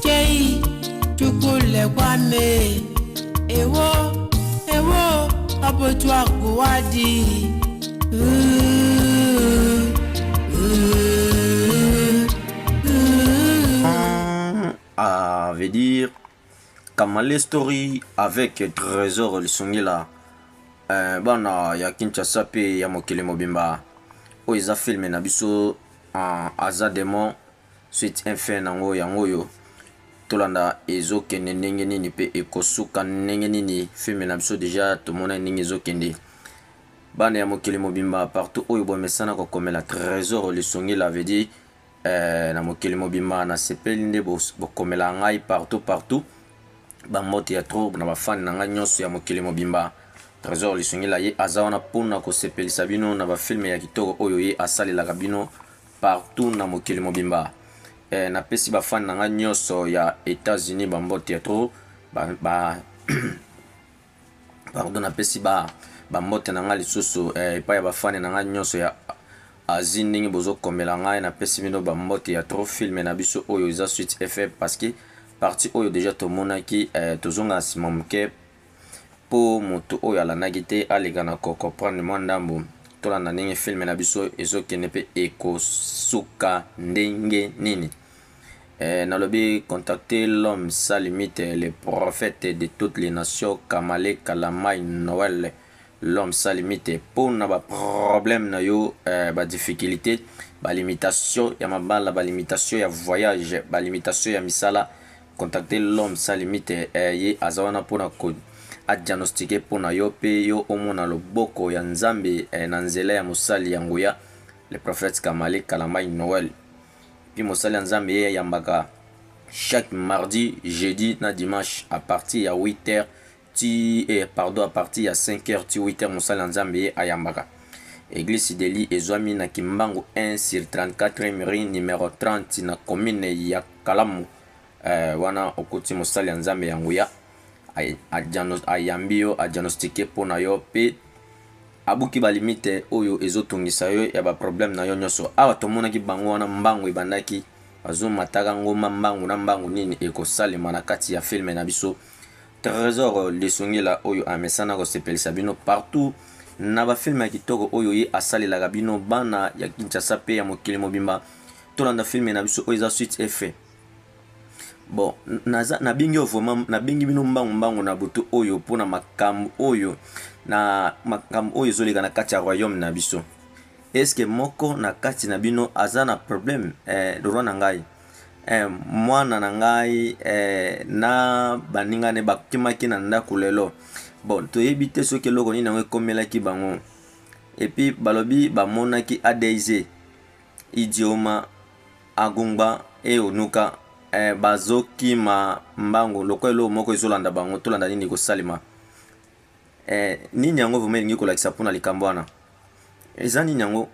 Kei tukule kwame ewo ewo abotwa kuwadi Ah, veut dire Kamale Story avec Trésor Lisungila euh, bana ya Kinshasa pe ya mokili mobimba oyo eza filme na biso uh, aza demon Suite et fin nango yango oyo. Tolanda ezo kende ndenge nini pe ekosuka ndenge nini film na biso deja tomonaki ndenge ezo kende. Bana ya mokili mobimba partout oyo bomesana ko komela Tresor Lisongila veut dire eh, na mokili mobimba na sepeli nde bokomela ngai partout partout. Ba mbote ya trop na ba fan na ngai nyonso ya mokili mobimba. Tresor Lisongila ye aza wana pona kosepelisa bino na ba film ya kitoko oyo ye asalelaka bino partout na mokili mobimba eh, napesi bafani na ngai nyonso ya Etats-Unis bambote ya trop ba, ba pardon napesi ba bambote na ngai lisusu eh, epai ya bafani na ngai nyonso ya asie ndenge bozokomela ngai napesi bino bambote ya trop filme na biso oyo eza suite efe parce que parti oyo deja tomonaki eh, tozonga nsima moke po mutu oyo alandaki te aleka na ko comprendre mwa ndambu, tolanda ndenge film na biso ezo kende pe eko suka ndenge nini? Ehh nalobi contactez l'homme sans limite le prophète de toutes les nations Kamale Kalamay Noël l'homme sans limite pona ba problèmes na yo ehh ba difficultes, ba limitations ya mabala, ba limitations ya voyage, ba limitations ya misala, Contacter l'homme sans limite eh, ye aza wana mpo na ko a diagnostiquer mpo na yo mpe yo omona loboko ya Nzambe eh, na nzela ya mosali ya nguya le prophète Kamale Kalambayi Noël. Puis mosali ya Nzambe ye ayambaka chaque mardi, jeudi na dimanche à partir ya 8 heures ti eh pardon à partir ya 5 heures ti 8 heures mosali ya nzambe ye ayambaka eglise sideli ezwami na kimbangu 1 sur 34 rue numero 30 na commune ya kalamu eh, wana okuti mosali ya nzambe ya nguya ayambi yo adiagnostike mpo na yo mpe abuki balimite oyo ezotungisa yo ya baproblème na yo nyonso awa tomonaki bango wana mbangu ebandaki bazomataka ngomba mbangu na mbangu nini ekosalema na kati ya filme na biso Tresor lisungi la oyo amesana kosepelisa bino partout na ba film ya kitoko oyo ye asalelaka bino bana ya Kinshasa pe ya mokili mobimba tolanda film na biso oyo eza suite et fin bon naza nabengi yo vraiment nabengi bino mbangu mbangu na butu oyo mpo na makambo oyo na makambo oyo ezoleka na kati ya royaume na biso eske moko na kati na bino aza na problème eh, roi na ngai Eh mwana na ngai eh, na baninga ne bakimaki na ndako lelo. Bon, toyebi te soki eloko nini yango ekomelaki bango. Epi balobi bamonaki ADZ idioma agungba eyonuka eh, bazokima mbango lokola eloko moko ezolanda bango, tolanda nini ekosalema. Eh nini yango vraiment elingi kolakisa mpona likambo wana eza nini yango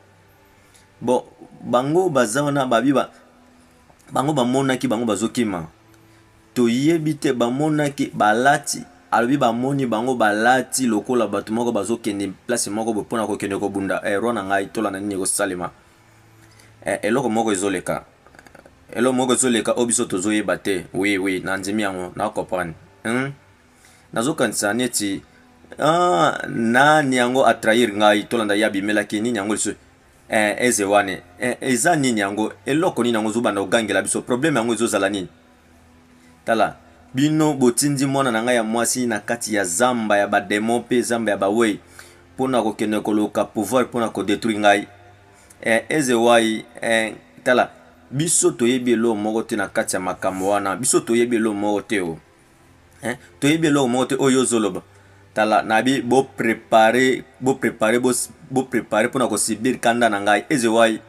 bon bango baza wana babi ba, bango bamonaki bango bazokima toyebi te bamonaki balati alobi bamoni bango balati lokola bato moko bazokende place moko boye mpona kokende kobunda eh, roi na ngai tolanda nini ekosalema eh, eloko moko ezoleka eloko moko ezoleka oyo biso tozoyeba te oui oui nandimi yango na comprendre hmm? nazokanisa neti ah, nani yango atrahir ngai tolanda ye abimelaki nini yango lisusu eh, eze wana eh, eza nini yango eloko nini yango ozobanda kogangela biso probleme yango ezozala nini tala bino botindi mwana na ngai ya mwasi na kati ya zamba ya bademo mpe zamba ya bawei mpo na kokende koluka pouvoir mpo na kodetruire ngai eh, eze wai eh, tala biso toyebi eloo moko te na kati ya makambo wana biso toyebi eloo moko te o oh. hein toyebi eloko moko te oyo ozoloba tala nabi bo prepare bo prepare bo prepare pona ko subir kanda na ngai ezewai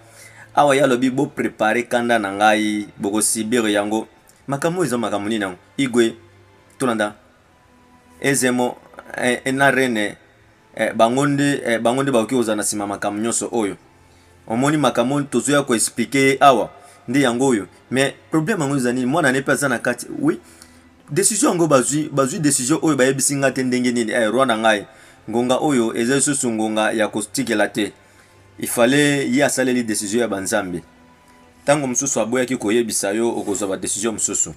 awa ye alobi bo prepare kanda na ngai boko subir yango makambo oyo eza makambo nini yango igwe tolanda ezemo eh, na rene eh, bango nde eh, bango nde bakoki kozala na nsima makambo nyonso oyo omoni makambo oyo tozoya koexplike ye awa nde yango oyo mais problème yango eza nini mwana ne mpe aza na kati oui desizio yango bazwi bazwi desizio oyo bayebisi ngai te ndenge nini eh, roi na ngai ngonga oyo eza lisusu ngonga ya kotikela te ifale ye asaleli desizio ya banzambe ntango mosusu aboyaki koyebisa yo okozwa badesizio mosusu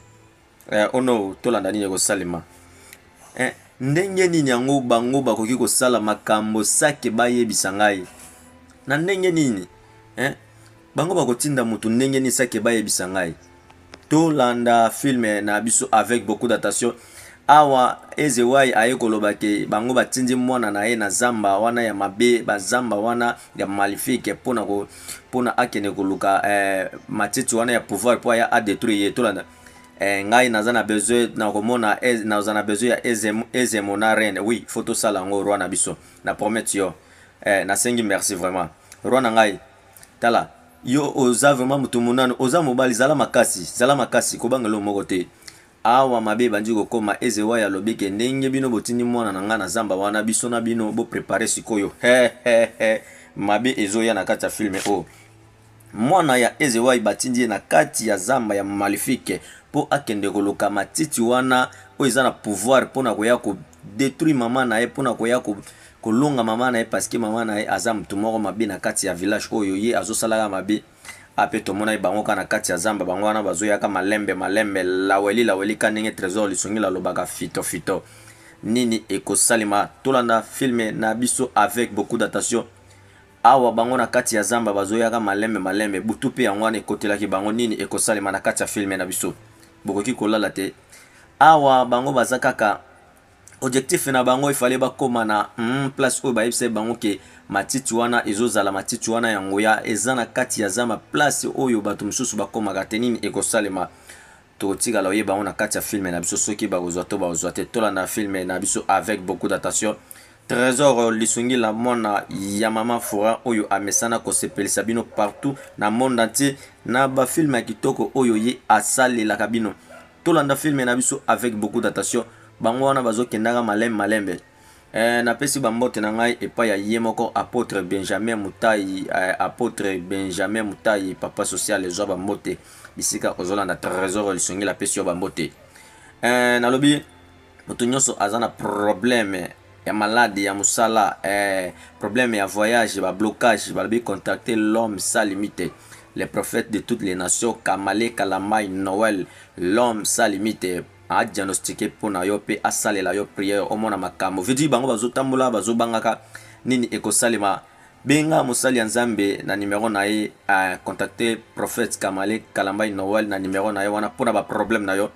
Eh, oh no, tolanda nini ekosalema eh, ndenge nini yango bango bakoki kosala makambo sake bayebisa ngai na ndenge nini eh? bango bakotinda motu ndenge nini sake bayebisa ngai tolanda filme na biso avec beaucoup d'attention awa ezewai aye koloba ke bango batindi mwana na ye na zamba wana ya mabe bazamba wana ya malifike mpona mpona akende koluka eh, matiti wana ya pouvoir mpo aya adetruire ye tolanda Eh, ngai naza na besoin na komona naza na besoin ya ezemo, ezemo na reine oui faut tosala yango roi na biso na promet yo eh, nasengi merci vraiment roi na ngai tala yo oza vraiment motu monano oza mobali zala makasi zala makasi kobanga eloko moko te awa mabe ebandi kokoma ezewa ya lobi ke ndenge bino botindi mwana na ngai na zamba wana biso na bino boprepare sikoyo mabe ezoya na kati ya filme oyo oh. Mwana ya Ezewai batindi ye na kati ya zamba ya Malefique po akende koluka matiti wana oyo eza na pouvoir pona koya ko detruire maman na ye pona koya ko kolonga maman na ye parce que maman na ye aza mutu moko mabe na kati ya village oyo ye azo sala ka mabe ape tomona ye bango ka na kati ya zamba bango wana bazo yaka malembe malembe laweli laweli ka ndenge tresor lisungila alobaka fito fito nini ekosalema tolanda filme na biso avec beaucoup d'attention. Awa bango na kati ya zamba bazo yaka malembe malembe butu pe yango wana ekotelaki bango nini ekosalema na kati ya film na biso bokoki kolala te awa bango baza kaka ojectif na bango efale bakoma na mm, place oyo bayebisaki bango ke matiti wana ezozala matiti wana ya nguya eza na kati ya zamba place oyo bato mosusu bakomaka te nini ekosalema Tokotikala koyeba yango na kati ya film na biso soki bakozwa to bakozwa te. Tolanda film na biso avec beaucoup d'attention. Tresor Lisungila mwana ya mama Fora oyo amesana kosepelisa bino partout na monde entier na ba film ya kitoko oyo ye asalelaka bino. Tolanda film na biso avec beaucoup d'attention. Bango wana bazokendaka malembe malembe. Eh, napesi bambote na ngai epai ya ye moko apotre Benjamin Mutayi, eh, apotre Benjamin Mutayi, papa social ezwa bambote bisika ozolanda tresor lisongeli apesi yo bambote. Eh, nalobi moto nyonso aza na probleme ya malade ya mosala eh, probleme ya voyage bablocage balobi contacte l'homme sa limite le prophète de toutes les nations kamale kalamai noel l'homme sa limite a diagnostiquer pona yo pe asalela yo prière omona makambu veut dire bango bazo tambola bazo bangaka nini ekosalema benga mosali ya nzambe na numero na ye a contacter prophète kamale kalambayi noël na numero na ye wana pona ba problème na yo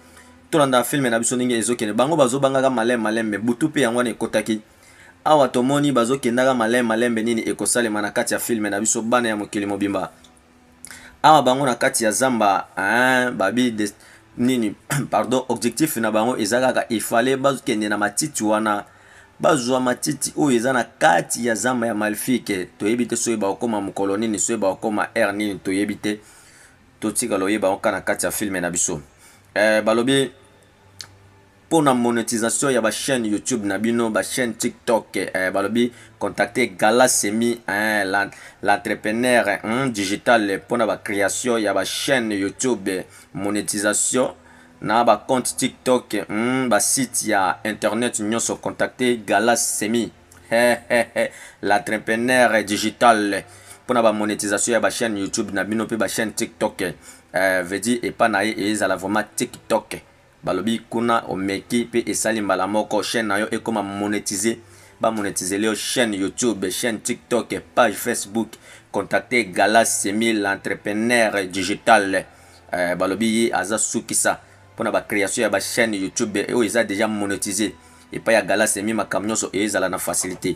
tolanda filme na biso ndenge ezo kende bango bazo bangaka malin malembe butu pe yango wana ekotaki awa tomoni bazo kendaka malin malembe nini ekosalema na kati ya filme na biso bana ya mokili mobimba awa bango na kati ya zamba hein, babi de, nini pardon objectif na bango eza kaka il fallait bakende na matiti wana bazwa matiti oyo eza na kati ya zamba ya malfike toyebi te soki bakokoma mokolo nini soki bakokoma aire nini toyebi te totikala oyeba oka na kati ya filme na biso eh, balobi Pona monetisation ya ba chaine YouTube na bino, ba chaine tiktok eh, balobi contacte Gala Semi eh, l'entrepreneur eh, digital pona ba creation ya ba chaine YouTube, monetisation na ba compte tiktok, hmm, ba site ya internet nyoso contacte Gala Semi l'entrepreneur digital pona ba monetisation ya ba chaine YouTube na bino pe ba chaine tiktok eh, veut dire epa na ye ezala vraiment tiktok. Balobi kuna omeki pe esali mbala moko chaine na yo ekoma monetise ba monetizeli yo chaine youtube chaine tiktok page facebook contacte gala semi l'entrepreneur digital euh balobi ye aza sukisa pona ba creation ya ba chaine youtube oyo eza dejà monetise epai ya gala semi makambo nionso ezala na facilite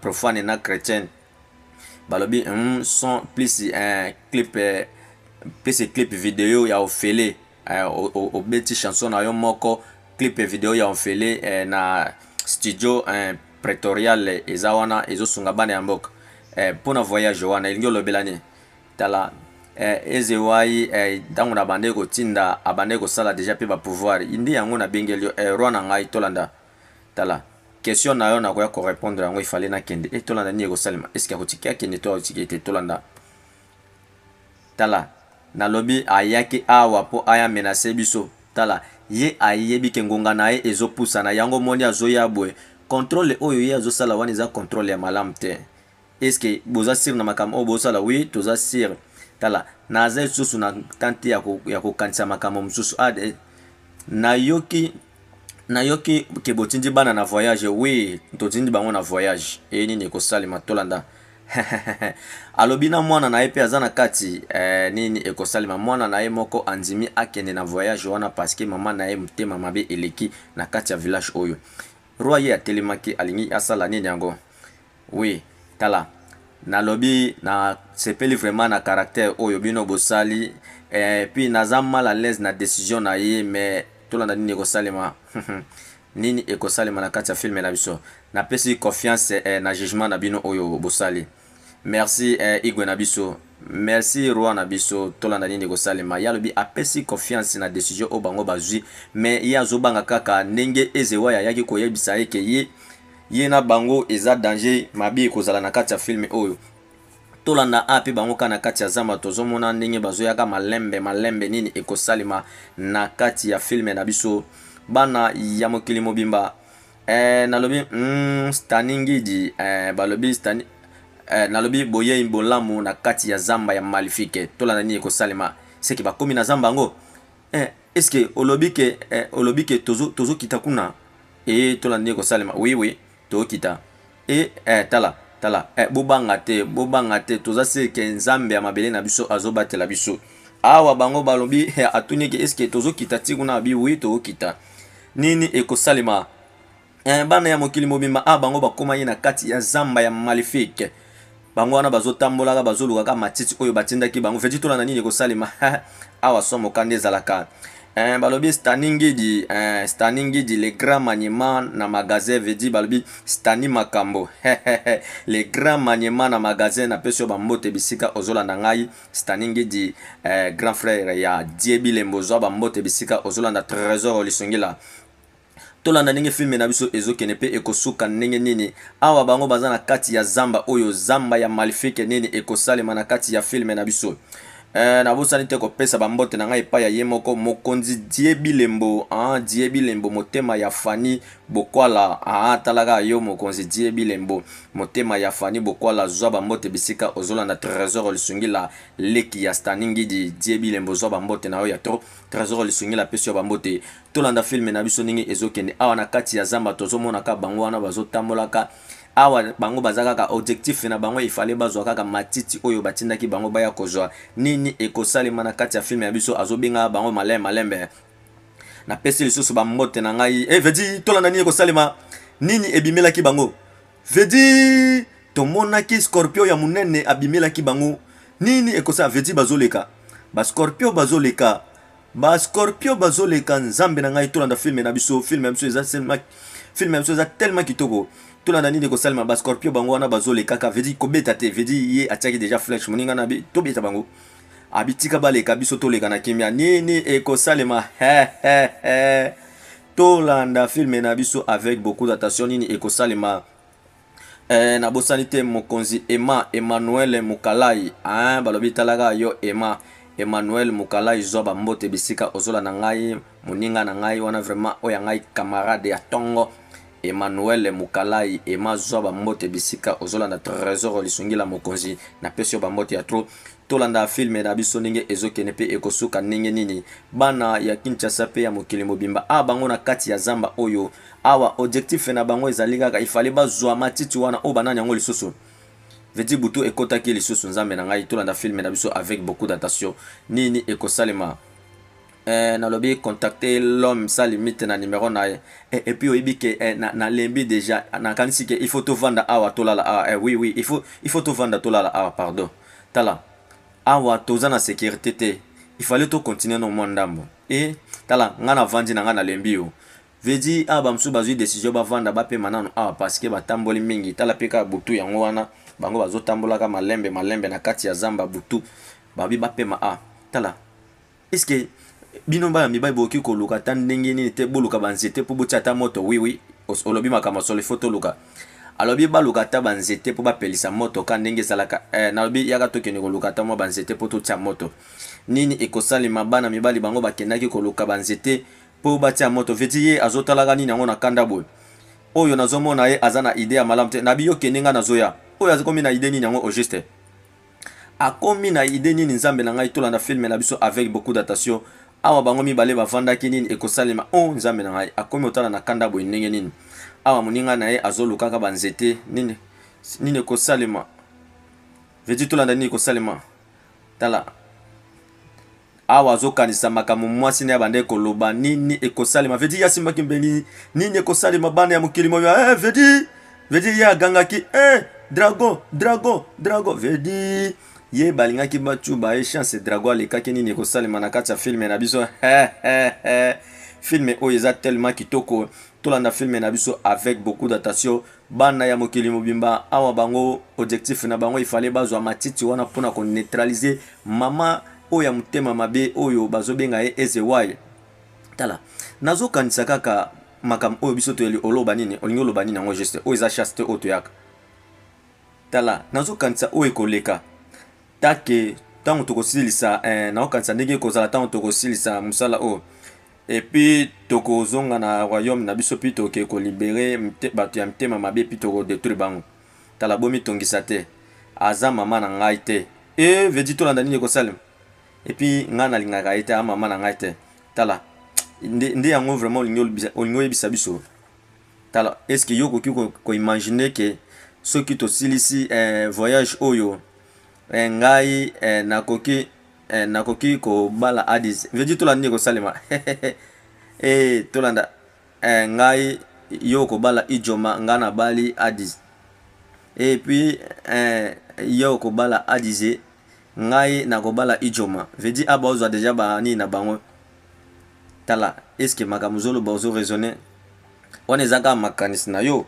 profane na chrétien balobi mm, son plus un clip eh, plus clip video ya ofele eh, obeti chanson na yo moko clip video ya ofele eh, na studio eh, pretorial eh, eza wana ezosunga bana ya mboka eh, mpo na voyage wana elingi olobela nini tala eh, ezewai eh, ntango eh, na bandeki kotinda abandeki kosala deja mpe bapouvoir indi yango nabengeli yo eh, roi na ngai tolanda Tala question na yo nakoya ko repondre yango il fallait na kende et tolanda nini ekosalema est ce que ako tika akende to ako tika ye te tolanda tala nalobi ayaki awa po aya menace biso tala ye ayebi ke ngonga na ye ezo pusana yango omoni azoya boye controle oyo ye azo sala wana eza controle ya malamu te Est ce que boza sur na makambo oyo bosala? Oui toza sur tala naza lisusu na temps te ya kokanisa makambo mosusu ah, eh, nayoki nayoki ke botindi bana na voyage oui totindi bango na voyage eye nini ekosalema tolanda alobi na mwana na ye mpe aza na kati eh, nini ekosalema mwana na ye moko andimi akende na voyage wana parceke mama na ye motema mabe eleki na kati ya village oyo roi ye atelemaki alingi asala nini yango Oui tala na lobi na sepeli vraiment na caractère oyo bino bo sali eh, puis naza mal à l'aise na decision na ye mais tolanda nini eko salema nini eko salema na kati ya film na biso. Na pesi confiance eh, na jugement na bino oyo bo sali. Merci eh, Igwe na biso. Merci Roi na biso, tolanda nini eko salema. Ye alobi a pesi confiance na decision oyo bango bazui mais ye azo banga kaka ndenge Ezewaya ayaki ko yebisa ye ke ye Ye na bango eza danger mabe ekozala na kati ya film oyo. Tolanda AP bango kaka na kati ya zamba tozo mona ndenge bazo yaka malembe malembe nini ekosalema na kati ya film na biso bana ya mokili mobimba eh nalobi humm Stani Ngidi eh balobi Stani eh nalobi boyei bolamu na kati ya zamba ya malifique tolanda nini ekosalema seke bakomi na zamba yango Eh, est-ce que olobi ke eh, olobi ke tozo tozo kita kuna? Eh, tola ndenge kosalema. Oui oui, to kita. Eh, eh tala, tala. Eh, bobanga te, bobanga te. Toza se ke Nzambe ya mabele na biso azo batela biso. Awa bango balobi eh, atuni ke est-ce que tozo kita ti kuna? Abi oui, to kita. Nini ekosalema? eh, bana ya mokili mobimba awa ah, bango bakomaki na kati ya zamba ya malefique bango wana bazotambolaka bazolukaka matiti oyo batindaki bango feti tola na nini ekosalema awa somoka nde ezalaka eh, balobi stani ngidi eh, stani ngidi le grand maniema na magasin vedi balobi stani makambo le grand maniema na magasin napesi yo bambote bisika ozolanda ngai stani ngidi eh, grand frère ya die bilembo ozwa bambote bisika ozolanda trésor olisungila Tolanda ndenge film na biso ezo kende pe eko suka ndenge nini. Awa bango baza na kati ya zamba oyo zamba ya malifique nini eko salema na kati ya film na biso. Eh, na bosani te ko pesa ba mbote na ngai epai ya ye moko mokonzi Die Bilembo, ah Die Bilembo motema ya Fanny Bokwala. Ah talaka yo mokonzi Die Bilembo motema ya Fanny Bokwala zwa ba mbote bisika ozolanda Tresor Lisungila leki ya Stani Ngidi Die Bilembo zwa ba mbote na yo ya trop Tresor Lisungila pesi yo ba mbote Tolanda film na biso ndenge ezokende awa na kati ya zamba tozomona ka bango wana bazotambolaka awa bango baza kaka objectif na bango ifale bazwa kaka matiti oyo batindaki bango baya kozwa nini ekosalema na kati ya filme ya biso azobenga bango malembe malembe napesi lisusu bambote na ngai e eh, vedi tolanda nini ekosalema nini ebimelaki bango vedi tomonaki scorpio ya monene abimelaki bango nini ekosala vedi bazoleka bascorpio bazoleka Ba scorpio bazo leka nzambe na ngai tolanda film na biso film na biso eza seulement film na biso eza tellement kitoko tolanda nini ekosalema ba scorpio bango wana bazo lekaka veut dire kobeta te veut dire ye atiaki déjà flèche moninga na tobeta bango abitika baleka biso toleka na kimia nini ekosalema tolanda film na biso avec beaucoup d'attention nini ekosalema Eh na bosani te mokonzi Emma Emmanuel Mukalayi hein balobi tala kaka yo Emma Emmanuel Mukalayi zwa ba mbote bisika ozolanda ngai moninga na ngai wana vraiment oyo ya ngai camarade ya tongo Emmanuel Mukalayi Emma zwa ba mbote bisika ozolanda Tresor lisungi la mokonzi na pesi yo ba mbote ya trop tolanda filme na biso ndenge ezokende mpe ekosuka ndenge nini bana ya Kinshasa mpe ya mokili mobimba a ah, bango na kati ya zamba oyo Awa objectif na bango ezali kaka il fallait bazua matiti wana oyo banani yango lisusu veut dire butu ekotaki lisusu nzambe na ngai tolanda filme na biso avec beaucoup d'attention nini ekosalema eh, nalobi contacter l'homme sa limite na numero na ye eh, et puis oyebi ke eh, na, na lembi déjà nakanisi ke il faut tovanda awa tolala awa eh, oui oui il faut, il faut tovanda tolala awa pardon tala awa toza na sécurité te il fallait tocontinue no mwa ndambo e eh, tala ngai navandi na ngai nalembi yo Veut dire awa ba mosusu bazui decision bavanda bapema nanu awa parce que batamboli mingi, tala pe kaka butu yango wana bango bazotambolaka malembe malembe na kati ya zamba butu balobi bapema awa tala est ce que bino bana mibali bokoki koluka ata ndenge nini te boluka banzete po botia ata moto oui oui olobi makambo ya solo il faut toluka alobi baluka ata banzete mpo bapelisa moto ka ndenge ezalaka eh, nalobi yaka tokende koluka ata mwa banzete mpo totya moto nini ekosalema bana mibali bango bakendaki koluka banzete Po batia moto veti ye azo talaka nini yango na kanda boye oyo nazo mona ye aza na idee ya malamu te nabi yo kende nga nazo ya oyo akomi na idee nini yango au juste akomi na idee nini nzambe na ngai tolanda film na biso avec beaucoup d'attention awa bango mibale bavandaki nini ekosalema o oh, nzambe na ngai akomi otala na kanda boye ndenge nini awa moninga na ye azo lukaka ba nzete nini nini ekosalema veti tolanda nini ekosalema tala Awa azokanisa makambo mwasi na ye abandaki koloba nini ekosalema. Vedi ye asimbaki mbeli nini ekosalema bana ya mokili moyo. Eh, eh, Vedi, Vedi ye agangaki eh, drago, drago, drago. Vedi ye balingaki bacuba ye chance drago alekaki nini ekosalema na kati ya filme na biso. Eh, eh, eh. Filme oyo eza tellement kitoko. Tolanda filme na biso avec beaucoup d'attention. Bana ya mokili mobimba awa bango ojectif na bango ifale bazwa matiti wana mpona ko neutralise mama oyo ya motema mabe oyo bazo benga ye Ezewaye tala nazo kanisa kaka makambo oyo biso toyeli oloba nini olingi oloba nini yango juste oyo eza chaste oyo toyaka tala nazo kanisa oyo ekoleka Take, tango tokosilisa eh, naokanisa ndenge ekozala tango tokosilisa musala oyo. Et puis tokozonga na royaume na biso puis toke ko libere bato ya mitema mabe puis toko detruire bango. Tala bomi tongisa te. Aza mama na ngai te. Eh, vedi tolanda nini ekosalema. Et puis ngai nalingaka ye te, a mama na ngai te. Tala nde, nde yango vraiment olingi olibisa, olingi oyebisa biso. Tala, est-ce que yo okoki ko, ko imaginer que soki tosilisi eh, voyage oyo eh, ngai eh, nakoki eh, nakoki kobala adis veji tolanda nini ekosalema eh, tolanda eh, ngai yo okobala ijoma ngai nabali adis et puis eh, yo okobala adize ngai nakobala ijoma veji aba ozwa deja banini na bango tala eske makambo ozoloba ozo raisonne wana eza kaka makanisi na yo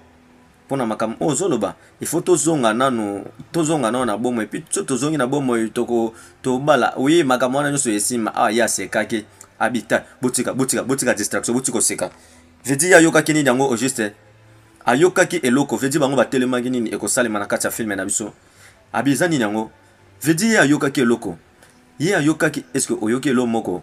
pona makambo oyo ozoloba il faut tozonga nanu tozonga nanu na bomoi puis soki tozongi na bomoi toko tobala oui makambo wana nyonso esima ah ye asekaki abita botika botika botika distraction botika koseka vedi ye ayokaki nini yango au juste ayokaki eloko vedi bango batelemaki nini ekosalema na kati ya filme na biso abi eza nini yango vedi ye ayokaki eloko ye ayokaki eske oyoki elo moko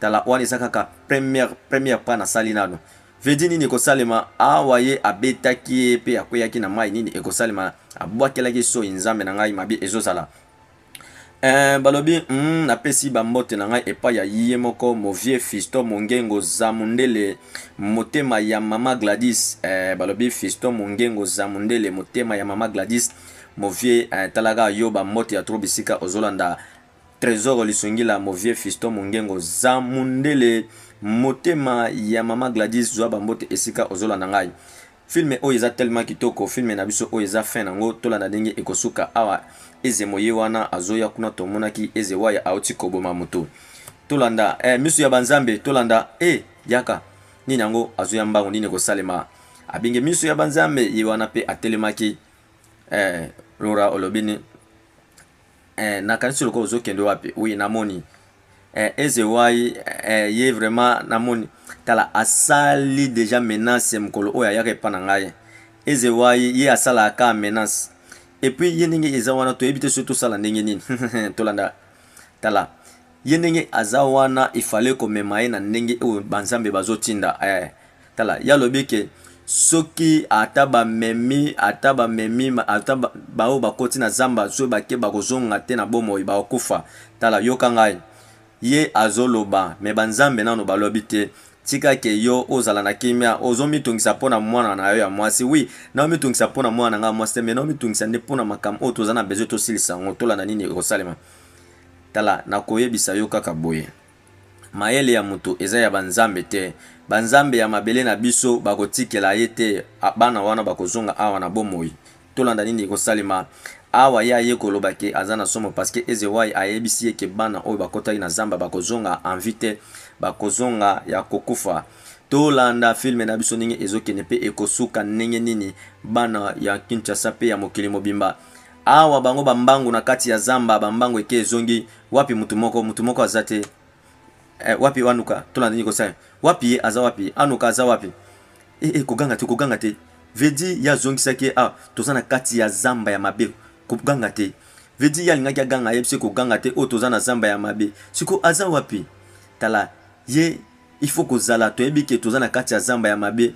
Tala wana eza kaka première première pas na sali nanu vedi nini ekosalema awa ye abetaki ye pe akweyaki na mayi nini ekosalema abwakelaki soyi nzambe na ngai mabe ezozala Eh, balobi mm, napesi bambote na ngai epai ya ye moko movie fiston mongengo zamundele motema ya mama gladis eh, balobi fiston mongengo zamundele motema ya mama gladis movie eh, talaka yo bambote ya tro bisika ozolanda Tresor lisungila mon vieux fiston mongengo za mundele motema ya maman Gladys zua ba mbote esika ozolanda ngai film oyo eza tellement kitoko film na biso oyo eza fin nango tolanda ndenge ekosuka awa eze moye wana azoya kuna tomonaki eze waya auti koboma mutu tolanda eh, misu ya banzambe tolanda eh, yaka nini yango azoya mbangu nini ekosalema abenge misu ya banzambe ye wana pe atelemaki eh, rora olobini Eh, nakanisi lokola ozokende wapi oui namoni eh, ezewai eh, ye vraiment namoni tala asali deja menace mokolo oyo ayaka epa na ngai ezewai ye asalaka ka menace epuis ye ndenge eza wana toyebi te soki tosala ndenge nini tolanda tala ye ndenge aza wana ifale komema ye na ndenge oyo banzambe bazotinda eh. Tala, ye alobi ke, Soki ata bamemi, ata bamemi, ata baoyo bakoti na zamba, soki bake, bakozonga te na bomoi, bakokufa. Tala, yoka ngai. Ye azoloba, mais banzambe nanu balobi te. Tika ke yo ozala na kimia. Ozomitungisa po na mwana na yo ya mwasi. Oui, naomitungisa po na mwana na ngai ya mwasi te, mais naomitungisa nde po na makambo oyo tozali na besoin tosilisa yango, tolanda nini ekosalema. Tala, nakoyebisa yo kaka boye. Mayele ya moto eza ya ba nzambe te. Ba nzambe ya mabele na biso bako tikela ye te bana wana bako zonga awa na bomoi. Tolanda nini eko salema awa ye aye ko loba ke aza na somo parce que Ezewayi ayebisi ye ke bana oyo bakotaki na zamba bako zonga en vie te bako zonga ya ko kufa. To landa film na biso ndenge ezo kende pe eko suka ndenge nini bana ya Kinshasa pe ya mokili mobimba. Awa bango ba mbangu na kati ya zamba ba mbangu eke ezongi wapi mutu moko mutu moko aza te eh, wapi anuka tolanda nini kosala wapi ye aza wapi anuka aza wapi eh, eh, koganga te koganga te vedi ye azongisaki ye ah, toza na kati ya zamba ya mabe koganga te vedi ye alingaki aganga ayebisi ye koganga te oyo oh, toza na zamba ya mabe siko aza wapi tala ye il faut kozala toyebi ke toza na kati ya zamba ya mabe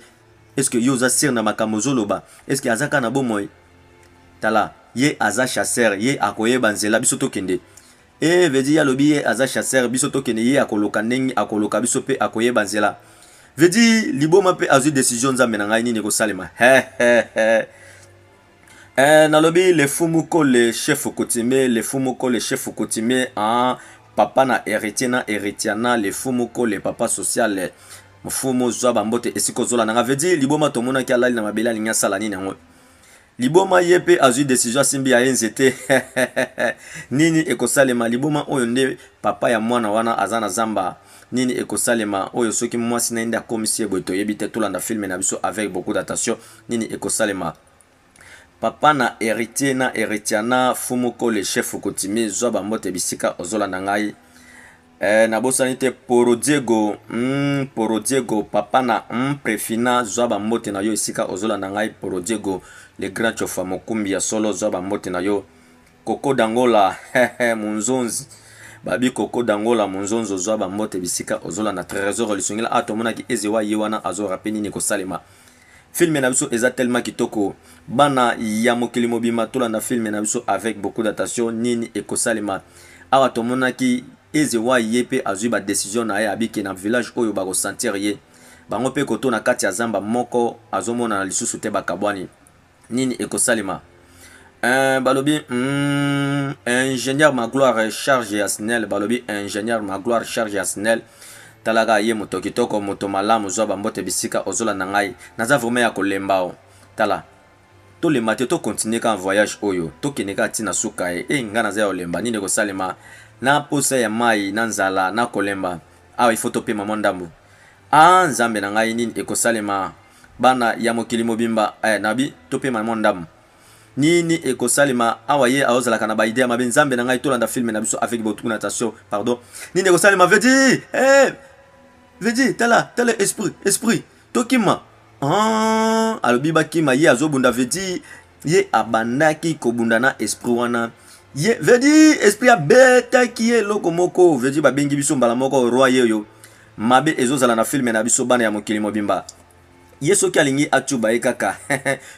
Est-ce que yo oza sur na makambo ozo loba? Est-ce que aza kaka na bomoi? Tala ye aza chasseur ye akoyeba nzela biso tokende. Eeh veut dire ye alobi ye aza chasseur biso tokende ye akoloka ndenge akoloka biso pe akoyeba nzela. Veut dire liboma pe azui decision nzambe na ngai nini ekosalema? Hehehe. Eh, nalobi le fou moko le chef coutumier, le fou moko le chef coutumier en papa na héritier na héritiana, le fou moko le papa social. Mfumu zwa bambote esika ozola nanga veut dire liboma tomonaki alali na mabele alingi asala nini yango liboma ye mpe azwi desizio asimbi ya ye nzete nini ekosalema liboma oyo nde papa ya mwana wana aza na zamba nini ekosalema oyo soki mwasi na ye nde akomisi ye boye toyebi te tolanda filme na biso avec beaucoup d'attention Nini ekosalema Papa na Heritier na Heritiana Fumu Kole Chefu Kutimi zwa ba mbote bisika ozolanda ngai eh, nabosani te Poro Diego mm, Poro Diego Papa na mm, Prefina zwa ba mbote na yo esika ozolanda ngai Poro Diego Le Grand Chofa Mokumbi ya solo zwa ba mbote na yo Koko Dangola hehe Munzonzi babi Koko Dangola Munzonzo zwa ba mbote bisika ozolanda Tresor Lisungila ah tomonaki Ezewa ye wana azo rape nini kosalema Film na biso eza tellement kitoko bana ya mokili mobima tolanda film na biso avec beaucoup d'attention nini ekosalema awa tomonaki eze wai ye pe azui ba decision na ye abike na village oyo bako sentir ye bango pe koto na kati ya zamba moko azomonana lisusu te bakabwani Nini ekosalema? Eh, balobi mm, ingénieur Magloire charge ya SNEL, balobi ingénieur Magloire charge ya SNEL. Talaka ye moto kitoko, moto malamu, zwa bambote bisika ozolanda ngai. Naza vraiment ya kolemba o. Tala, tolemba te, to continuer kaka voyage oyo, tokende kaka ti na suka e. Eh, ngai naza ya kolemba, nini ekosalema? Na posa ya mai, na nzala, na kolemba. Awa il faut topema mwa ndambo. Ah, Nzambe na ngai, nini ekosalema? Bana ya mokili mobimba eh, na bi to pema mwa ndambu. Nini ekosalema awa ye aozalaka na ba idee ya mabe nzambe na ngai tolanda film na biso avec beaucoup d'attention pardon nini ekosalema vedi eh vedi tala tala esprit esprit tokima ah alobi bakima ye azobunda vedi ye abandaki kobunda na esprit wana ye vedi esprit abetaki ye eloko moko vedi babengi biso mbala moko roi yeyo mabe ezozala na filme na biso bana ya mokili mobimba ye soki alingi acuba ye kaka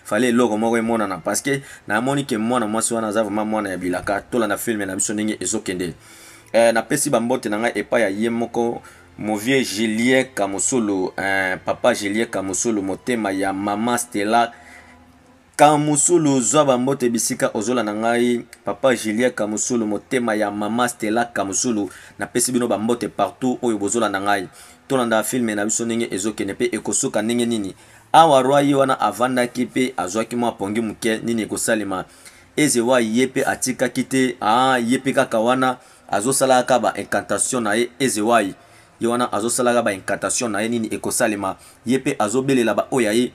fale eloko moko emonana parceke namoni ke mwana mwasi wana aza vraimen mwana ya bilaka tolanda filme na biso ndenge ezokende eh, napesi bambote na ngai epai ya ye moko movie julien kamusulu eh, papa julien kamusulu motema ya mama stela Kamusulu zwa ba mbote bisika ozo landa ngai papa Julien kamusulu motema ya maman Stella kamusulu na pesi bino ba mbote partout oyo bozo landa ngai to landa film na biso ndenge ezo kende pe eko suka ndenge nini awa roi ye wana avandaki pe azwaki mwa pongi muke nini eko salema eze wa ye pe atikaki te aah ye pe kaka wana azo sala kaka ba incantation na ye eze wa ye wana azo sala kaka ba incantation na ye nini eko salema ye pe azo belela ba oyo ya ye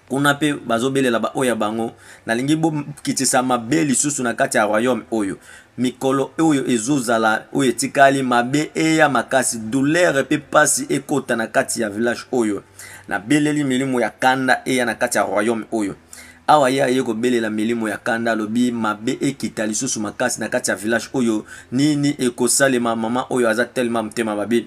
Kuna pe bazo belela ba oyo ya bango. Nalingi bo kitisa mabe lisusu na kati ya royaume oyo. Mikolo oyo ezo zala oyo etikali, mabe eya makasi, douleur pe pasi ekota na kati ya village oyo. Na beleli milimo ya kanda eya na kati ya royaume oyo. Awa ye aye ko belela milimo ya kanda alobi mabe ekita lisusu makasi na kati ya village oyo. Nini eko salema maman oyo aza tellement motema mabe.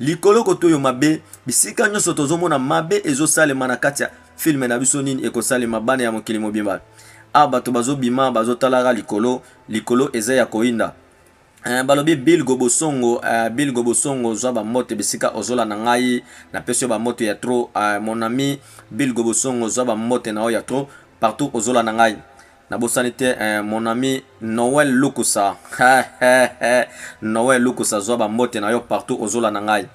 Likolo kotoyo mabe bisika nyoso tozomona mabe ezosalema na kati ya filme na biso nini ekosalema bana ya mokili mobimba a ah, bato bazobima bazotalaka likolo likolo eza ya koyinda Uh, balobi bilgo bosongo uh, bilgo bosongo zwa bambote bisika ozola na ngai napesi yo bambote ya tro uh, mon ami bilgo bosongo zwa bambote na yo ya tro partout ozola na ngai Nabosani te eh, mon ami Noël Lukusa Noël Lukusa zwa ba mbote na yo partout ozola na ngai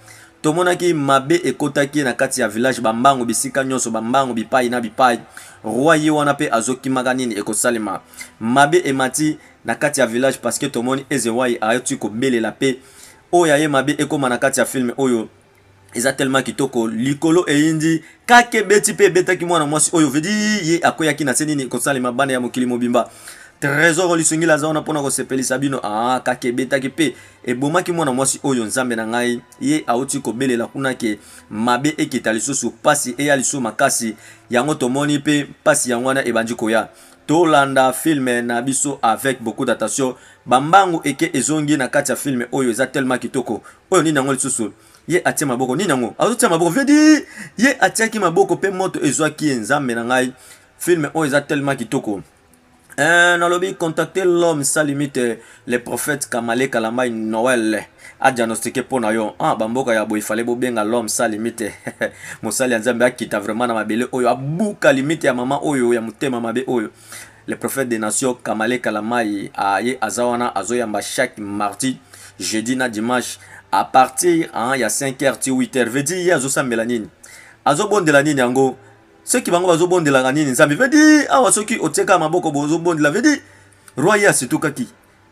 tomonaki mabe ekotaki na kati ya village bambangu bisika nyonso bambangu bipai na bipai roi ye wana mpe azokimaka nini ekosalema mabe emati na kati ya village parceke tomoni ezewai ayoti kobelela mpe oyo aye mabe ekóma na kati ya filme oyo eza tellement kitoko likolo eyindi kake beti pe ebetaki mwana mwasi oyo vedi ye akweyaki na se nini kosalema bana ya mokili mobimba trésor olisungila aza wana mpona kosepelisa bino aa ah, kake ebetaki pe ebomaki mwana mwasi oyo nzambe na ngai ye auti kobelela kuna ke mabe ekita lisusu mpasi eya lisusu makasi yango tomoni pe mpasi yango wana ebandi koya tolanda filme na biso avec beaucoup d'attention bambangu eke ezongi na kati ya filme oyo eza tellement kitoko oyo nini yango lisusu ye atie maboko nini yango azotia maboko vedi ye atiaki maboko mpe moto ezwaki ye nzambe na ngai filme oyo eza tellement kitoko eh, nalobi contacte l'homme sa limite le prophète kamale kalamai noel adiagnostike mpo na yo ah, bamboka ya boye fale bobenga l'homme sa limite mosali ya nzambe akita vraiment na mabele oyo abuka limite ya mama oyo ya motema mabe oyo Le prophète des nations Kamale Kalamayi a ye aza wana azo yamba chaque mardi, jeudi na dimanche à partir hein, ya 5h ti 8h veut dire ye azo sambela nini? Azo bondela nini yango? Ceux qui bango bazo bondelaka nini Nzambe? Veut dire awa soki otieka maboko bozo bondela veut dire roi ye asitukaki.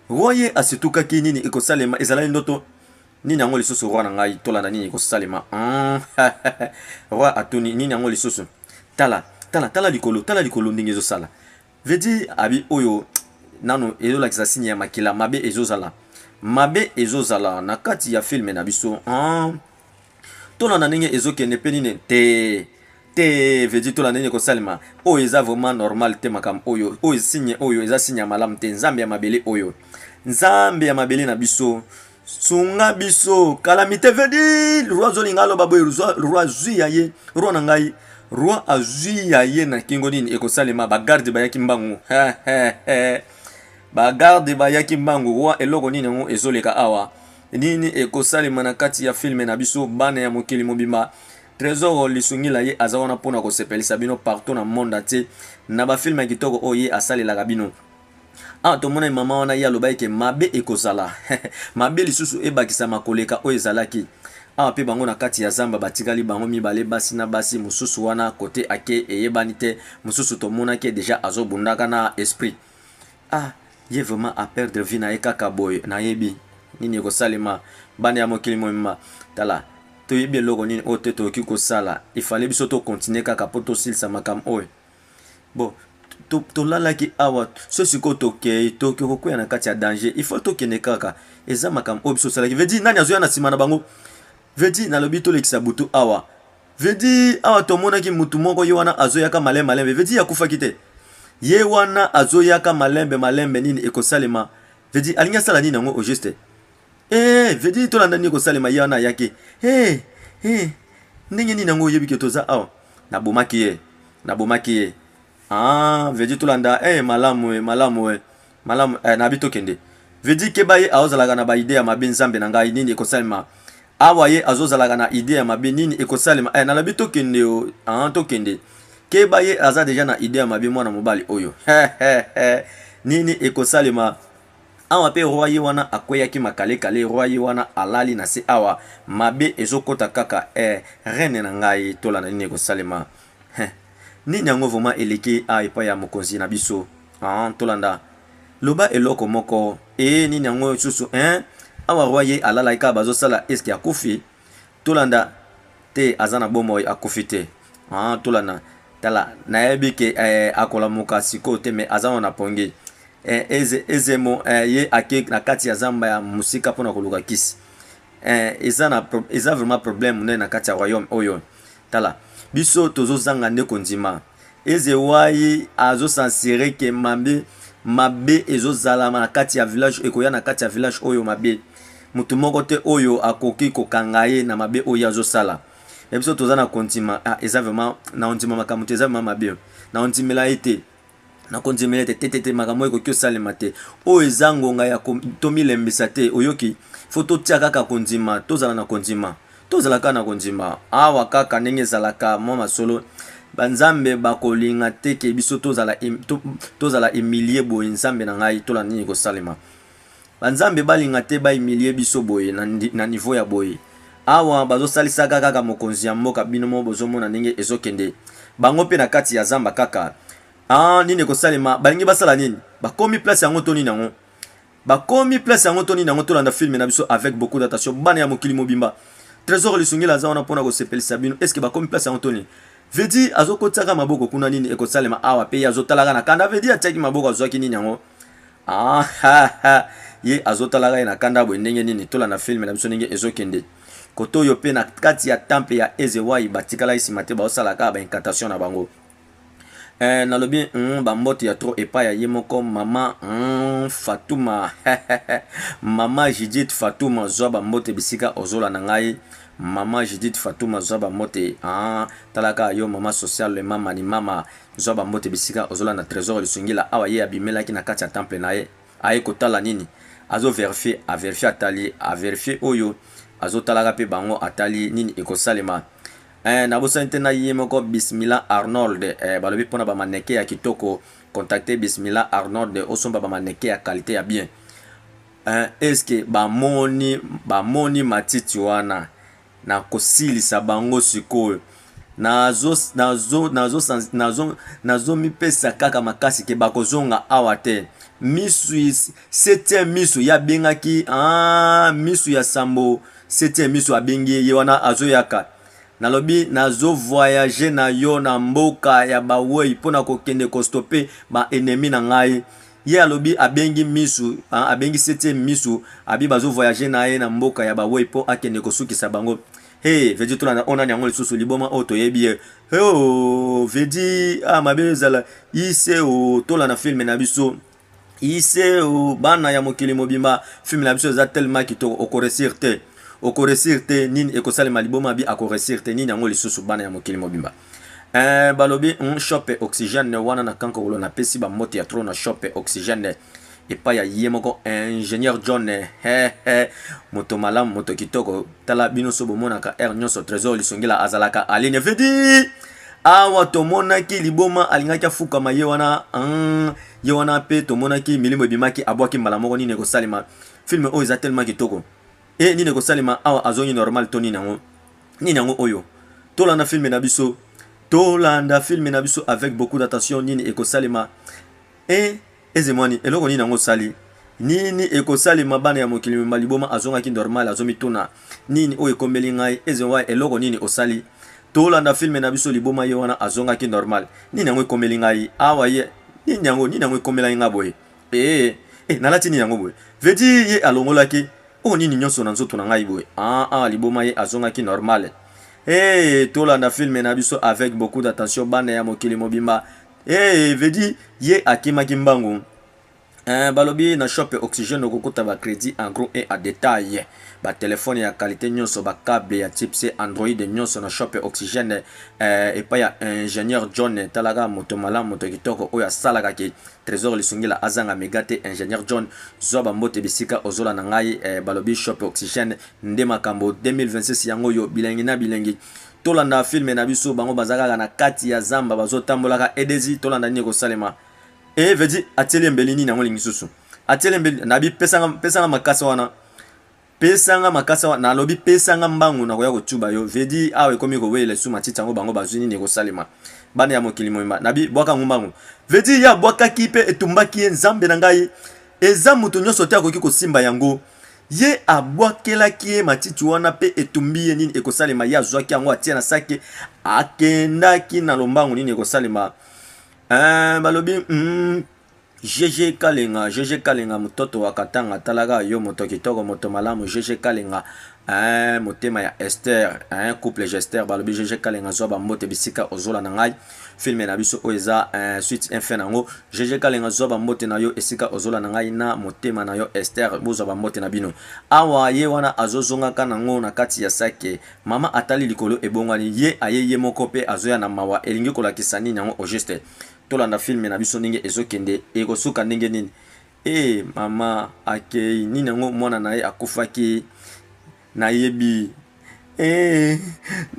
Roi ye asitukaki nini ekosalema ezalaki ndoto nini yango lisusu roi na ngai tolanda nini ekosalema? Hum, roi atuni nini yango lisusu? Tala tala tala likolo tala likolo ndenge ezo sala veut dire abi oyo nano ezo lakisa signe ya makila mabe ezo zala mabe ezo zala na kati ya film na biso ah tolanda ndenge ezo kende pe nini te te veut dire tolanda ndenge kosalema oyo eza vraiment normal te makambo oyo oyo signe oyo eza signe ya malamu te nzambe ya mabele oyo nzambe ya mabele na biso sunga biso kalamite vedi roi azolinga aloba boye roi azwi ya ye roi na ngai roi azwi ya ye na kingo nini ekosalema bagarde bayaki mbangu bagarde bayaki mbangu roi eloko nini yango ezoleka awa nini ekosalema na kati ya filme na biso bana ya mokili mobimba trésor lisungi la ye aza wana mpona kosepelisa bino partout na monde entier na bafilme ya kitoko oyo ye asalelaka bino Awa tomonani mama wana ye alobaki ke mabe ekozala mabe lisusu ebakisama koleka oyo ezalaki awa pe bango na kati ya zamba batikali bango mibale basi na basi mosusu wana kote ake eyebani te mosusu tomonaki deja azobundaka na esprit ah ye vraiment a perdre vie na ye kaka boye nayebi nini ekosalema bana ya mokili mobimba tala toyebi eloko nini oyo te toyoki kosala ifale biso tokontinue kaka mpo tosilisa makambo oyo Bon, tolalaki to, to awa so sikoyo tokei toki kokwea na kati ya danger il faut tokende kaka eza makambo oyo biso osalaki vedi nani azoya na nsima na bango vedi nalobi tolekisa butu awa vedi awa tomonaki mutu moko ye wana azoyaka malembe malembe vedi akufaki te ye wana azoyaka malembe malembe nini ekosalema vedi alingi asala nini yango au juste Hey, vedi tolanda nini kosalema ye wana ayaki hey, hey. ndenge nini yango oyebi ke toza awa nabomaki ye nabomaki ye ah, vedi tolanda hey, eh, malamu e malamu e malamu eh, nabi tokende vedi keba ye aozalaka na baide ya mabe nzambe na ngai nini ekosalema awa ye azozalaka na ide ya mabe nini ekosalema eh, nalabi tokende o ah, tokende keba ye aza deja na ide ya mabe mwana mobali oyo nini ekosalema Awa pe roi ye wana akweyaki makale kale roi ye wana alali na se awa mabe ezo kota kaka eh reine na ngai tola na nini eko salema heh nini yango vraiment eleki awa epai ya mokonzi na biso ah tolanda loba eloko moko eh nini yango lisusu eh awa roi ye alalaki kaka bazo sala eske akufi Tolanda te aza na bomoi akufi te haa tolanda tala nayebi ke eh, akolamuka sikoyo te mais aza wana na pongi eh, eze, ezemo eh, ye ake na kati ya zamba ya mosika mpo na koluka kisi eh, eza, na, eza vraiment problème monene na kati ya royaume oyo tala biso tozozanga nde kondima Ezewayi azo sensirer que mabe mabe ezo zala na kati ya village ekoya na kati ya village oyo mabe mutu moko te oyo akoki ko kanga ye na mabe oyo azo sala ya biso toza na kondima ah, eza vraiment na ondima makambo te eza vraiment mabe na ondimela ye te na kondimela ye te te te te makambo ekoki osalema te oyo eza ngonga ya tomilembisa te oyoki fo totia kaka kondima tozala na kondima Tozala kaka na kondima. Awa kaka ndenge ezalaka mwa masolo, banzambe bakolinga te ke biso tozala, to, tozala emilie boye, nzambe na ngai, tola nini kosalema. Banzambe balinga te baimilie biso boye, na, na niveau ya boye. Awa bazosalisaka kaka mokonzi ya mboka, bino mo bozomona ndenge ezokende. Bango mpe na kati ya zamba kaka. Ah, nini ekosalema? Balingi basala nini? Bakomi place yango to nini yango? Bakomi place yango to nini yango tolanda film na biso avec beaucoup d'attention bana ya mokili mobimba. Tresor Lisungila aza wana pona ko sepelisa bino. Est-ce que bakomi place yango to nini? Vedi azokotisaka maboko kuna nini ekosalema awa pe ye azotalaka na kanda Vedi atiaki maboko azwaki nini yango ah, ha, ha. ye azotalaka ye na kanda boye ndenge nini tolanda filme na biso ndenge ezokende kote oyo mpe na kati ya temple ya ezewai batikalaki nsima te baosalaka baincantation na bango Eh nalobi hum ba mbote ya trop epai ya ye moko maman hum Fatouma maman Judith Fatouma zwa ba mbote bisika ozola na ngai maman Judith Fatouma zwa ba mbote haa tala kaka yo maman social le mama ni mama zwa ba mbote bisika ozola na tresor lisungila awa ye abimelaki na kati ya temple na ye aye kotala nini azo verifier a verifier atali a verifier oyo azotalaka pe bango atali nini ekosalema Eh, nabosani te na ye moko Bismila Arnold eh, balobi pona ba maneke ya kitoko contacte Bismila Arnold osomba ba maneke ya qualité ya bien eh, eske bamoni bamoni matiti wana na kosilisa bango sikoyo nazo nazo nazo nazo nazo mipesa kaka makasi ke bakozonga awa te misu Septième miso ye abengaki ah, miso ya sambo septième miso abengi ye ye wana azoyaka nalobi nazo voyage na yo na mboka ya bawei mpo na kokende kostope ba ennemi na ngai ye alobi abengi miso ah, abengi septième miso abi bazo voyage na ye na mboka ya bawei mpo akende kosukisa bango he vedi tolanda oyo nani yango lisusu liboma oyo toyebi ye heo vedi ah mabe ezala ise o tolanda filme na biso iseo bana ya mokili mobimba film na biso eza tellement kitoko okoresir te okoresir te nini ekosalema liboma bi akoresir te nini yango lisusu bana ya mokili mobimba eh, balobi mm, shope oxygène wana na kankokolo napesi bambote ya tro na shope oxygène epai ya ye moko ingénieur john hehe moto malamu moto kitoko tala bino so bomonaka heure nyonso trésor lisongila azalaka aline vidi awa tomonaki liboma alingaki afukama ye wana hmm, ye wana mpe tomonaki milimo ebimaki abwaki mbala moko nini ekosalema filme oyo eza tellement kitoko e nini ekosalema awa azongi normal to nini yango nini yango oyo tolanda filme na biso tolanda filme na biso avec beaucoup d'attention nini ekosalema e Ezemwani eloko nini yango osali? Nini ekosalema bana ya mokili mema liboma azongaki normal azomituna nini oyo ekomeli ngai Ezewai eloko nini osali? Tolanda film na biso liboma ye wana azongaki normal nini yango ekomeli ngai awa ye nini yango nini yango ekomelaki ngai boye ee eh, nalati nini yango boye vedi ye alongolaki oyo nini nyonso na nzoto na ngai boye aa ah, ah, liboma ye azongaki normal ee tolanda film na biso avec beaucoup d'attention bana ya mokili mobimba Hey, eh, vedi ye akimaki mbangu eh, balobi na shop ya oxygène okokuta ba crédit en gros et en détail batelefone ya kalite nyonso bakable ya type c android nyonso na shop ya oxygène eh, epai ya ingénieur john talaka moto malamu moto kitoko oyo asalaka ke trésor lisungila azanga mega te ingénieur john zwa bambote bisika ozola na ngai eh, balobi shop ya oxygène nde makambo 2026 yango oyo bilengi na bilengi tolanda film na biso bango baza kaka na kati ya zamba bazotambolaka edezi tolanda nini ekosalema e eh, vedi atieli embeli nini yango lingi susu atieli embeli nabi pesanga pesanga makasa wana pesanga makasa wana nalobi pesanga mbangu nakoya kotuba yo vedi awa ekomi kowelela esu matiti yango bango bazwi nini ekosalema bana ya mokili moyemba nabi bwaka ngo mbangu vedi ya bwakaki mpe etumbaki ye nzambe na ngai eza moto nyonso te akoki kosimba yango Ye abwakelaki ye matiti wana pe etumbi ye. Nini ekosalema? Ye azwaki yango, atie na saki, akendaki na lombangu. Nini ekosalema? Eh, balobi, mm, Jeje Kalenga, Jeje Kalenga, mototo wa Katanga, atalaka yo, moto kitoko, moto malamu, Jeje Kalenga, eh, motema ya Esther, eh, couple Jester, balobi, Jeje Kalenga, zwa bambote bisika ozola na ngai. filme na biso oyo eza eh, suite un fin nango jeje kalenga zwa bambote na yo esika ozola na ngai na motema na yo ester bozwa bambote na bino awa ye wana azozongaka nango na kati ya sake mama atali likolo ebongwani ye aye ye moko mpe azoya na mawa elingi kolakisa nini yango au juste tolanda filme na biso ndenge ezokende ekosuka ndenge nini e mama akei nini yango mwana na ye akufaki Nayebi eeh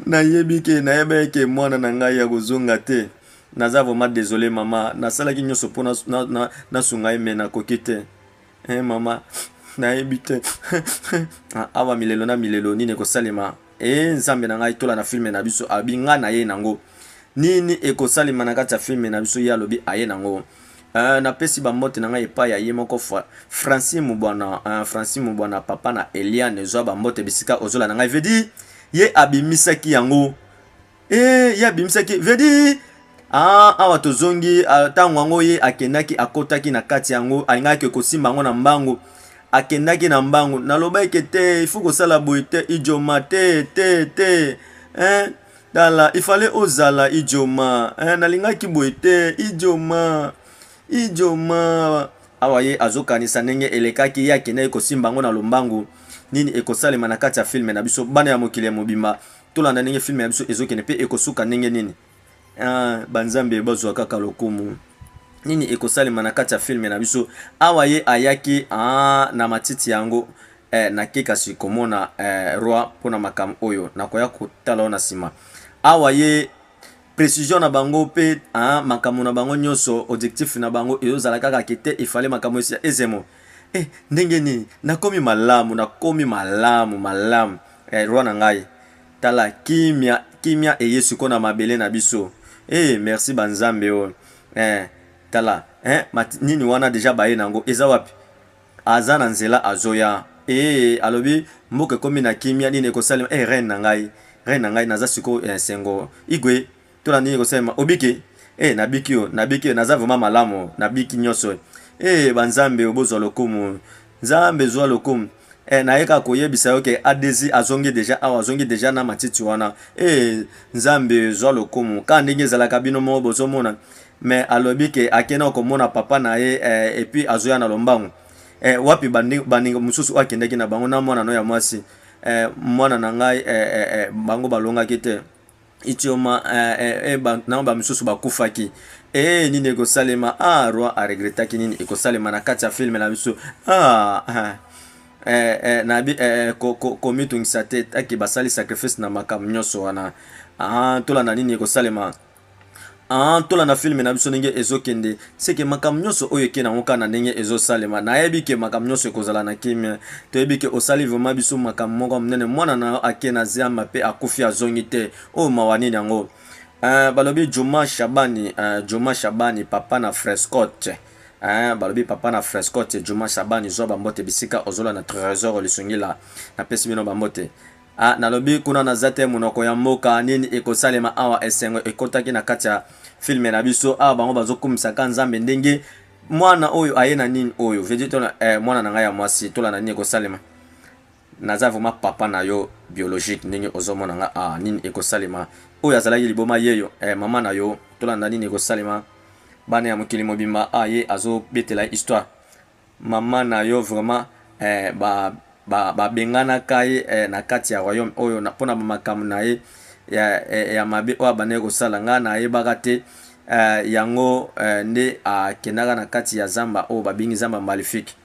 nayebi ke nayebaki ke muana na ngai akozonga te naza vraiment desole maman nasalaki nionso po nasunga ye mais nakoki te eeh maman nayebi te eeh awa milelo na milelo nini ekosalema eeh nzambe na ngai tola na filme na biso abi nga naye nango nini ekosalema na kati ya filme na biso ye alobi aye nango Eh, napesi bambote na ngai epai ya ye moko Francine Mubwana, eh, Francine Mubwana, papa na Eliane, zwa bambote bisika ozola na ngai. Vedi, ye abimisaki yango. Eh, ye abimisaki, Vedi, ah, awa tozongi, ntango ah, yango ye akendaki, akotaki na kati yango, alingaki kosimba yango na mbangu. Akendaki na mbangu, nalobaki te, ifu kosala boye te, ijoma te, te, te, eh, Tala, il fallait ozala Idjoma. Eh, nalingaki boye te, Idjoma. Idjoma. Awa ye azokanisa ndenge elekaki ye akendaki kosimba yango na lombangu. Nini ekosalema na kati ya filme na biso? Bana ya mokili ya mobimba, tolanda ndenge filme ya biso ezokende mpe ekosuka ndenge nini? Ah, banzambe bazwa kaka lokumu. Nini ekosalema na kati ya filme na biso? Awa ye ayaki ah, na matiti yango Eh nake kasi komona eh roi pona makambo oyo nakoya kotala yo na sima awa ye precision na bango pe ah makambo na bango nyoso objectif na bango ezozala kaka ke te il fallait makambo esi ezemo eh ndenge nini nakomi malamu nakomi malamu malamu eh roi na ngai tala kimia kimia eye siko na mabele na biso eh merci ba nzambe oyo eh tala eh mat nini wana deja baye na yango eza wapi Aza na nzela azoya eeh alobi mboka ekomi na kimia nini ekosalema eh reine na ngai reine na ngai naza sikoyo eh esengo igwe tola nini ekosalema obiki eh nabiki oh nabiki eh naza vraiment malamu oh nabiki nioso eh eh ba nzambe oh bozwa lokumu nzambe zwa lokumu eh naye kaka koyebisa yo ke adezi azongi deja awa azongi deja na matiti wana eh nzambe zwa lokumu ka ndenge ezalaka bino moko bozomona mais alobi ke ake nao komona papa na ye eh, et puis azoya na lombango eh, wapi baninga mosusu oyo akendaki na bango na mwana no ya mwasi eh, mwana na ngai eh, eh, eh, bango balongaki te itioma eh, eh, eh, ba, na bamisusu bakufaki ee eh, nini ekosalema ah, roi aregretaki nini ekosalema na kati ya filme na biso ah, ah. Eh, eh, na bi eh, eh ko, ko, komitungisa te ake basali sacrifice na makambo nyonso wana ah, tolanda nini ekosalema Aah tolanda film na biso ndenge ezokende seke makambo nyonso oyo eke nango kaka na ndenge ezosalema nayebi ke makambo nyonso ekozala na kimia toyebi ke osali vrema biso makambo moko ya monene mwana na yo ake na ziamba mpe akufi azongi te oyo oh, mawa nini yango uh, balobi juma shabani uh, juma shabani papa na frescote Eh, balobi papa na frescote juma shabani zwa bambote bisika ozola na tresor lisungila napesi bino bambote Ah nalobi kuna naza te munoko ya mboka nini ekosalema awa esengo ekotaki na kati ya film na biso awa bango bazokumisa ka nzambe ndenge mwana oyo aye na nini oyo veut tona eh, mwana na ngai ya mwasi tola na nini ekosalema naza vraiment papa na yo biologique ndenge ozomona nga ah, nini ekosalema oyo azalaki liboma yeyo eh, mama na yo tolanda nini ekosalema bana ya mokili mobimba aye ah, azobetela histoire Maman na yo vraiment eh ba ba ba bengana ka ye eh na kati ya royaume oyo na pona ba makambo na ye ya eh ya mabe oyo abandaki kosala nga na yebaka te eh yango eh nde a kendaka na kati ya zamba oyo ba bengi zamba malifique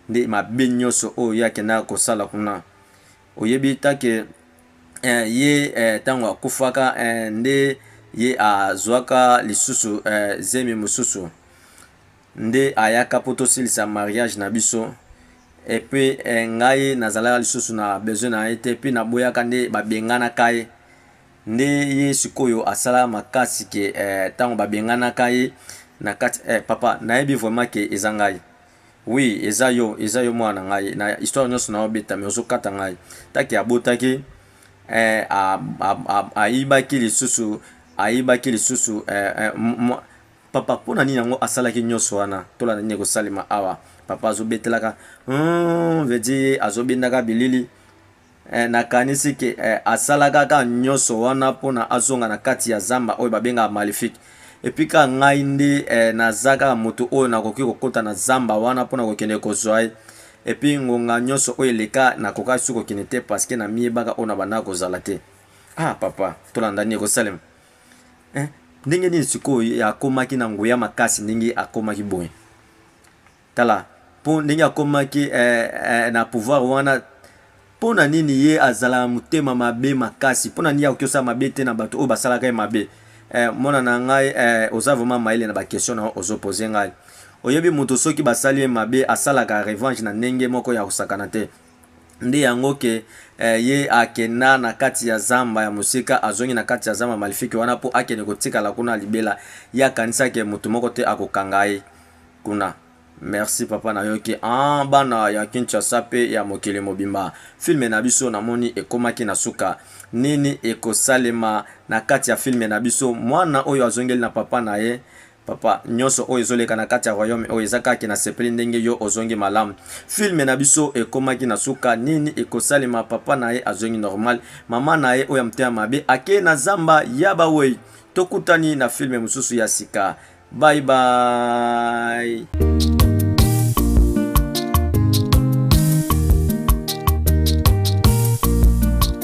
nde mabe nioso oyo ye akendaka kosala kuna oyebi ta ke eh ye eh tango akufaka eh nde ye a zuaka lisusu eh zemi mosusu nde ayaka po tosilisa mariage na biso et puis ngai nazalaka lisusu na besoin na ye te puis naboyaka nde babenganaka ye nde ye sikoyo asala makasi ke tango babenganaka ye na kati eh papa nayebi vraiment ke eza ngai oui eza yo eza yo mwana na ngai na histoire nionso na obeta mais ozo kata ngai taki abotaki eh ayibaki lisusu ayibaki lisusu eh Papa pona nini yango asalaki nioso wana tolanda nini ekosalema awa papa azobetelaka humm veut dire ye azobendaka bilili eh, nakanisi ke eh, asalaka ka nioso wana pona azonga na kati ya zamba oyo babengaka malifique epuis ka ngai nde eh, naza kaka moto oyo nakoki kokota na zamba wana pona kokende kozwa ye epuis ngonga nioso oyo eleka nakokaki su kokende te parceke namiyebaka oyo na bandaka kozala te ah papa tolanda nini ekosalema Eh, ndenge nini sikoyo akomaki na nguya makasi ndenge akomaki boye? Tala, mpo ndenge akomaki eh, eh, na pouvoir wana mpo na nini ye azala na motema mabe makasi? Mpo na nini akoki osala mabe te na bato oyo basalaka ye mabe? Eh, mwana na ngai eh, oza vraiment mayele na bakestion na ozopose ngai. Oyebi moto soki basali ye mabe asalaka revanche na ndenge moko ya kosakana te. nde yango ke eh, ye akenda na kati ya zamba ya mosika azongi na kati ya zamba malifiki wana mpo akende kotikala kuna libela ye akanisa ke moto moko te akokanga ye kuna merci papa nayoki ah, bana ya kinshasa mpe ya mokili mobimba filme na biso namoni ekomaki na suka nini ekosalema na kati ya filme na biso mwana oyo azongeli na papa na ye Papa nionso oyo ezoleka na kati ya royaume oyo eza kake na sepeli ndenge yo ozongi malamu film na biso ekomaki na suka nini ekosalema papa na ye azongi normal maman na ye oyo ya motema mabe akei na zamba ya ba weyi tokutani na film mosusu ya sika bye bye